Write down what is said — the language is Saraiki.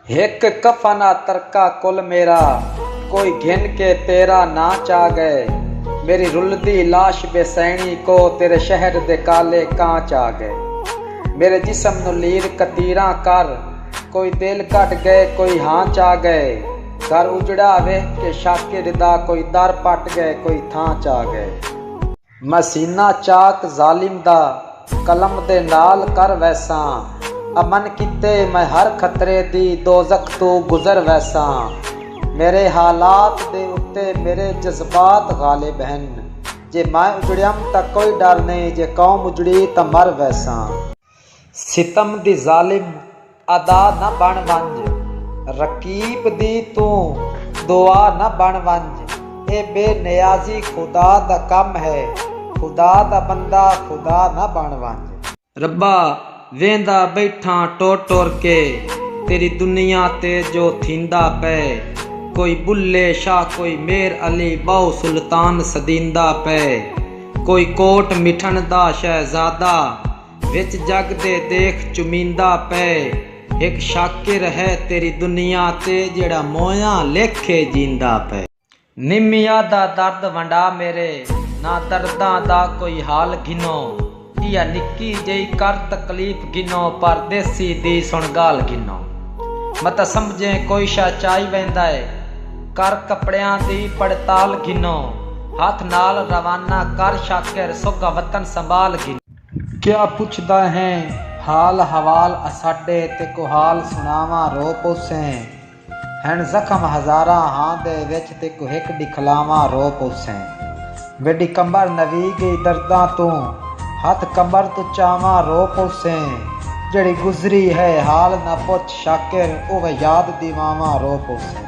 ہک کفن آ ترکا کل میرا کوئی گھن کے تیرا ناں چا گئے میری رلدی لاش بے سینی کو تیرے شہر دے کالے کاں چا گئے میرے جسم نو لیر کتیراں کر کوئی دل کڈ گئے کوئی ہاں چا گئے گھر اجڑا ویکھ کے شاکر دا کوئی در پٹ گئے کوئی تھاں چا گئے۔ میں سینہ چاک ظالم دا قلم دے نال کر ویساں امن کیتے میں ہر خطرے دی دوزخ توں گزر ویساں میرے حالات دے اتے میرے جذبات غالب ہن جے میں اجڑیم تاں کوئی ڈر نئیں جے قوم اجڑی تاں مر ویساں۔ ستم دی ظالم ادا نہ بݨ ونڄ رقیب دی توں دعا نہ بݨ ونڄ اے بے نیازی خدا دا کم ہے خدا دا بندہ خدا نہ بݨ ونڄ۔ ربا ویندا ٻیٹھاں ٹر ٹر کے تیݙی دنیا تے جو تھیندا پئے کوئی ٻلھے شاہ کوئی میر علی ٻہوں سلطان سݙیندا پئے۔ کوئی کوٹ مٹھݨ دا شہزادہ وچ جڳ دے دیکھ چمیندا پئے ہک شاکر ہے تیݙی دنیا تے جیڑھا موئیاں لیکھے جیندا پئے۔ نمیا دا درد ونڈا میݙے نہ درداں دا کوئی حال گھنو ایہا نکی جئی کر تکلیف گھنو پر دیسی دی سݨ ڳالھ گھنو متاں سمجھیں کوئی شاہ چائی ویندا اے۔ کر کپڑیاں دی پڑتال گھنو۔ ہتھ نال روانہ کر شاکر سوگھا وطن سنبھال گھنو۔ کیا پچھدا ہیں حال حوال اساڈے تیکوں حال سنڑاواں رو پوسیں ہن زخم ہزاراں ہاں دے وچ تیکوں ہک ڈکھلاواں رو پوسیں ویڈی کمبر نوی گئی درداں توں ہتھ کمبر توں چاواں رو پوسیں جیڑھی گزری ہے حال نہ پچھ شاکر اوہ یاد دیواواں رو پوسیں۔